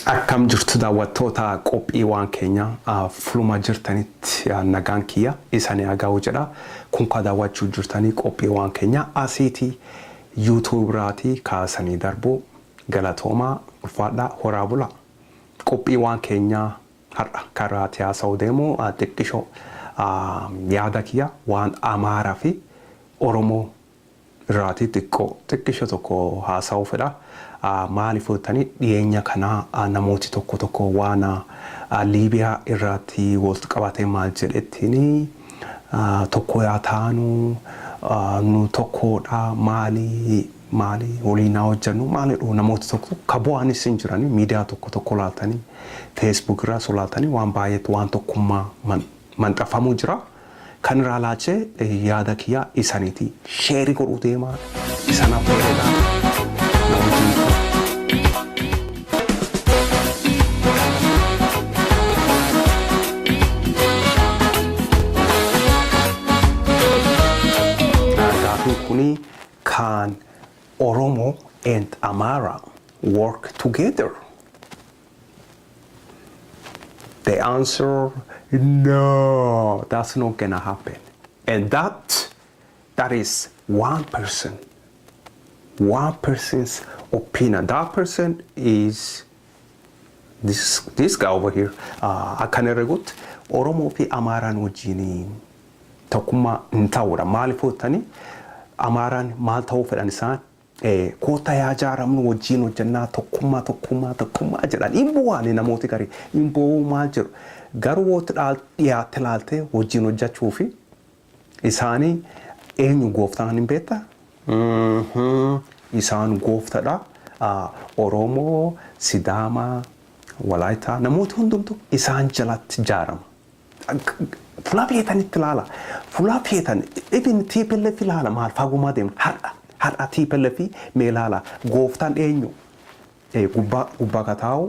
Akkam jirtu daawwattoota qophiiwwan keenya fuluma jirtanitti nagaan kiyya isanii haga'u jedha. Kunkaa daawwachuu jirtanii qophiiwwan keenya asiiti YouTube irraatii kaasanii darbuu. Galatoomaa, ulfaadhaa, horaa bulaa. Qophiiwaan keenyaa har'a kan irraati haasa'uu deemu xiqqishoo yaada kiyya waan Amaara fi Oromoo irraatii xiqqoo xiqqisho tokko haasa'uu fedha. Maaliif yoo jettanii dhiyeenya kana namooti tokko tokko waan Liibiyaa irraati walt qabatee maal jedhettiinii. Tokkoo yaa taanuu nuu tokkoo dha maalii maalii woliin haa hojjannuu maal jedhuu namooti tokko tokko ka bo'aanis hin jiranii miidiyaa tokko tokko laaltanii facebook irraa osoo laaltanii waan baay'eetti waan tokkummaa man manxafamuu jiraa kan iraa laachee yaada kiyyaa isanitii Sheri godhuu deemaa isana bareedaa namni jiru. Gaafii kuni kaan Oromo and Amara work together? The answer no, that's not gonna happen. And that That is one person one person's opinion that person is this this guy over here uh, akkan herregutti oromoo fi amaaraan wajjiin tokkummaa hin ta'uudha maaliif hoottanii amaaraan maal ta'uu fedhan isaan eh, koota yaa jaaramnu wajjiin hojjannaa tokkummaa tokkummaa tokkummaa jedhan hin bu'aani namooti garii hin bu'uu maal jedhu garuu wootti dhaal- dhiyaatte laaltee wajjiin hojjechuu fi Isaani eenyu gooftaan hin beekta? Isaan gooftadha. Oromoo, Sidaamaa, Walaayittaa namooti hundumtu isaan jalatti jaarama. Fulaa feetanitti laala. Fulaa feetan even tplf laala maal faagumaa deemna har'a har'a tplf mee laala gooftaan eenyu? Gubbaa gubbaa ka taa'u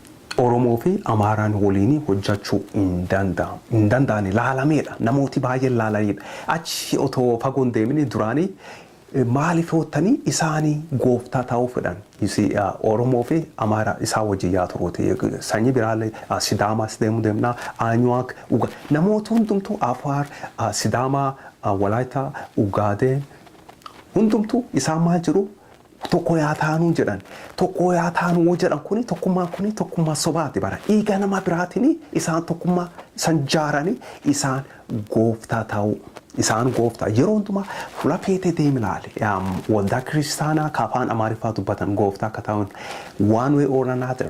Oromoo fi Amaaraan woliini hojjachuu hin danda'amu. Hin danda'ani. Laalameedha. Namooti baay'een laalaniidha. Achi otoo fagoo hin deemini duraani maaliif hoottani isaani gooftaa ta'uu fedhan. You see Oromoo fi Amaara isaan wajjin yaa turuuti. Sanyi biraalle Sidaamaas deemu deemna. Aanyuwaak, Uga. Namooti hundumtuu Afaar, Sidaamaa, Walaayittaa, Ugaadeen hundumtuu isaan maal jedhu? Tokko yaa taanuu jedhan. Tokko yaa taanuu yoo jedhan kuni tokkummaan kuni tokkummaa sobaati bara. Dhiiga nama biraatiin isaan tokkummaa san jaaranii isaan gooftaa ta'uu. Isaan gooftaa yeroo hundumaa fula feete deemi laali. Waldaa kiristaanaa ka afaan Amaariffaa dubbatan gooftaa akka ta'an one way or another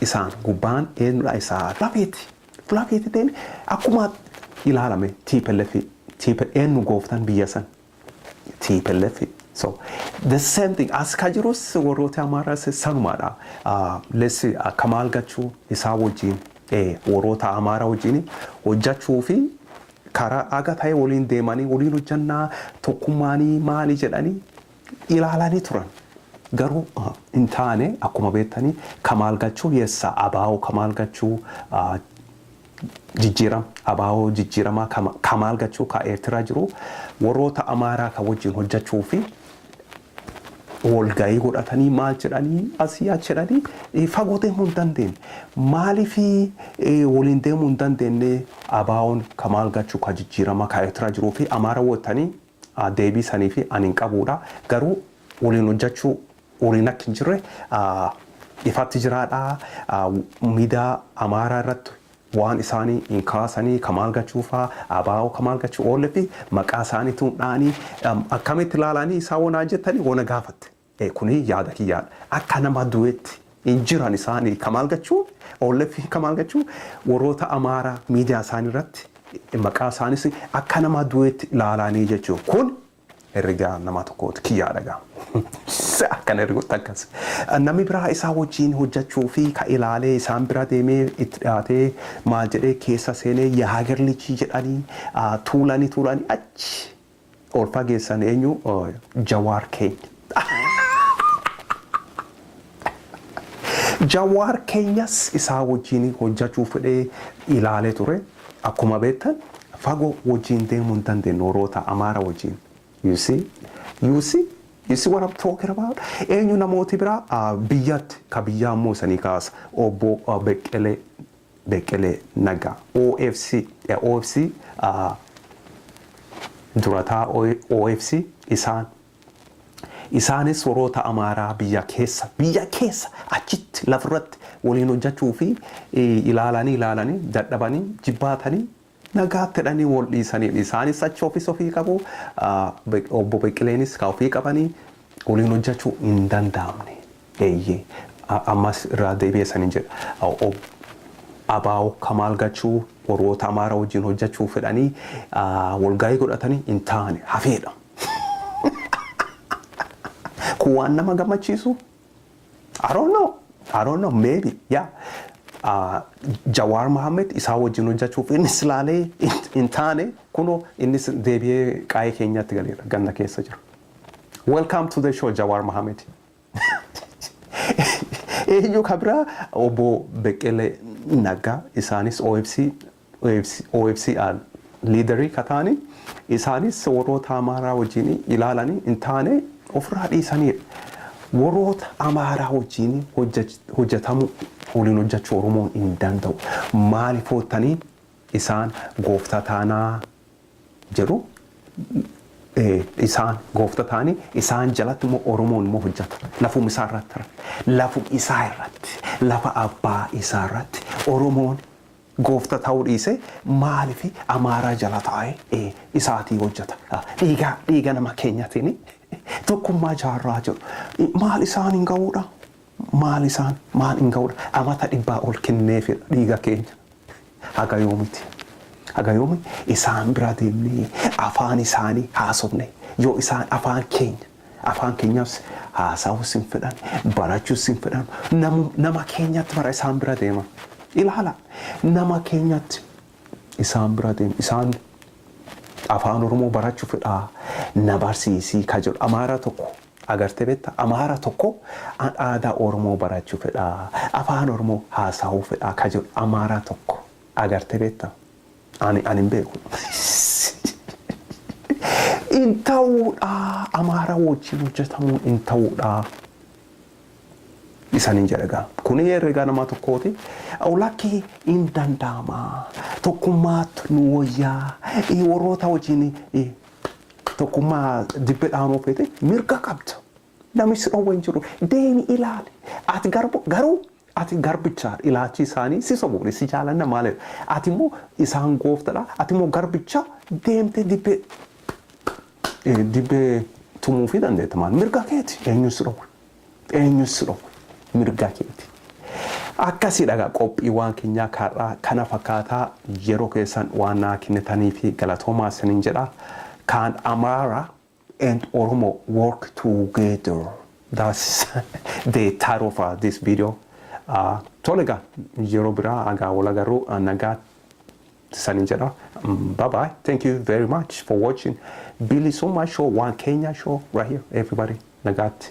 isaan gubbaan eenyudha isaa fula feete. Fula feete deemi akkuma ilaalame TPLF eenyu gooftaan biyya san tplf so the same thing as ka jirus warroota amaaraas sanumaadha let's see akka maal gachuu isaa wajjin warroota amaara wajjin hojjachuu fi karaa aga ta'e waliin deemanii waliin hojjannaa tokkummaanii maali jedhanii ilaalanii turan garuu hin taane akkuma beektanii kamaal gachuu yessa abaa'oo kamaal gachuu Jijjiiram Abaawoo jijjiiramaa ka ka maal gachuu ka Eertiraa jiruu warroota Amaaraa ka wajjin hojjachuu fi wolgayii godhatanii maal jedhanii asii achi jedhanii fagoo deemuu hin dandeenne. Maalifii woliin deemuu hin dandeenne Abaawoon ka maal gachuu ka jijjiiramaa ka Eertiraa jiruu fi Amaara wottanii deebii saniifi ani hin qabuudha garuu waliin hojjachuu waliin akki hin jirre ifatti jiraadha miidaa amaaraa irratti waan isaanii hin kaasanii kamaal gachuufaa abaa'oo kamaal gachuu oolletti maqaa isaanii tuun dha'anii akkamitti ilaalanii isaa wanaa jettanii wana gaafatte. Ee kuni yaada kiyyaa akka nama duetti hin jiran isaani kamaal gachuu onlf kamaal gachuu warroota amaara miidiyaa isaani irratti maqaa isaanis akka nama duetti laalaanii jechuu kun herregaa namaa tokkooti kiyyaa dhagaa se akkan herregotti akkas namni biraa isaa wajjiin hojjachuu fi ka ilaalee isaan bira deemee itti dhiyaatee maal jedhee keessa seenee yaa hager lijii jedhanii tuulanii tuulanii achi Ol fageessan eenyu jawaar keenya. Jawaar keenyas isaa wajjiin hojjachuu fedhee ilaalee ture akkuma beektan fago wajjiin deemuu hin dandeenyu warroota amaara wajjiin you see you see you see what I'm talking about eenyu namooti biraa biyyatti ka biyyaa immoo isanii kaasa obbo Beqqelee Beqqelee Naggaa, OFC, OFC, durataa OFC isaan Isaanis warroota Amaaraa biyya keessa, biyya keessa, achitti lafirratti waliin hojjachuu fi ilaalanii ilaalanii dadhabanii jibbaatanii Nagaatti jedhanii wol dhiisaniin isaanis achi ofis ofii qabu, Obbo Beqqileenis kaa ofii qabanii woliin hojjachuu hin danda'amne. Eeyyee ammas irraa deebi'ee isanin jedha Ob. Abaawo Kamaal Gachuu worroota Amaara wojjiin hojjachuu fedhanii wolgahii godhatanii hin taane hafeedha. Kun waan nama gammachiisuu? I don't know. I don't know. Maybe. Yeah. Uh, Jawaar Mohammed isaa wajjin hojjechuuf innis ilaalee hin- hin taane kunoo innis deebi'ee qaa'ee keenyatti galeera ganna keessa jira. Welcome to the show Jawaar Mohammed. Eenyu kan biraa obbo Beqqelee Naggaa isaanis OFC OFCAn liidarii ka taani isaanis warroota Amaaraa wajjiin ilaalani hin taane ofirraa dhiisaniidha. Warroota Amaaraa wajjiin hojjatamuu waliin hojjachuu Oromoon hin danda'u. Maaliif hoottanii isaan gooftaa taanaa jedhu isaan goofta taani isaan jalatti immoo Oromoon immoo hojjata. Lafum isaa irratti lafum isaa irratti lafa abbaa isaa irratti Oromoon Goofta ta'uu dhiise maaliif Amaaraa jala taa'e e isaatii hojjata dhiiga dhiiga nama keenyatini tokkummaa jaarraa jiru maal isaan hin ga'uudha maal isaan maal hin ga'uudha amata dhibbaa ol kenneefidha dhiiga keenya haga yoomiti haga yoomi isaan bira deemnee afaan isaanii haasofne yoo isaan afaan keenya Afaan keenyaas haasahuus hin fedhan, barachuus hin fedhan. Namu, nama keenyatti bara isaan bira deema. Ilaala, nama keenyatti isaan bira deema. Isaan afaan Oromoo barachuu fedhaa na barsiisii ka jedhu Amaara tokko agartee beekta? Amaara tokko an aadaa Oromoo barachuu fedhaa, afaan Oromoo haasahuu fedhaa ka jedhu Amaara tokko agartee beekta? Ani ani hin beeku. Hin ta'uudha amaara wajjin hojjetamuun hin ta'uudha. Isanin jedha gaa. Kuni herregaa namaa tokkooti. Lakkii hin danda'ama. Tokkummaatu nu wayyaa. Warroota wajjin tokkummaa dibbe dhaanuu feete mirga qabda. Namni si dhowwe hin jiru. Deemi ilaali. Ati garbu, garuu ati garbicha dha. Ilaachi isaanii si sobu, ni si jaalanna maaliif? Ati immoo isaan goofta dha, ati immoo garbicha deemtee dibbee eh, dibbee tumuufii dandeetta maal? Mirga keeti. Eenyu si dhowwe? Eenyu si dhowwe? Mirga keeti. Akkasii dhagaa qophiiwwan keenyaa karraa kana fakkaataa yeroo keessan waan naa kennitanii fi galatoomaa isiniin jedha. Kaan Amaaraa and Oromo work together. That's the title of uh, this video. Uh, tole egaa yeroo biraa agaa wal agarru uh, nagaa sanin jedha. Mm, Bye bye. Thank you very much for watching Bilisummaa Show, One Kenya Show right here. Everybody, nagaatti.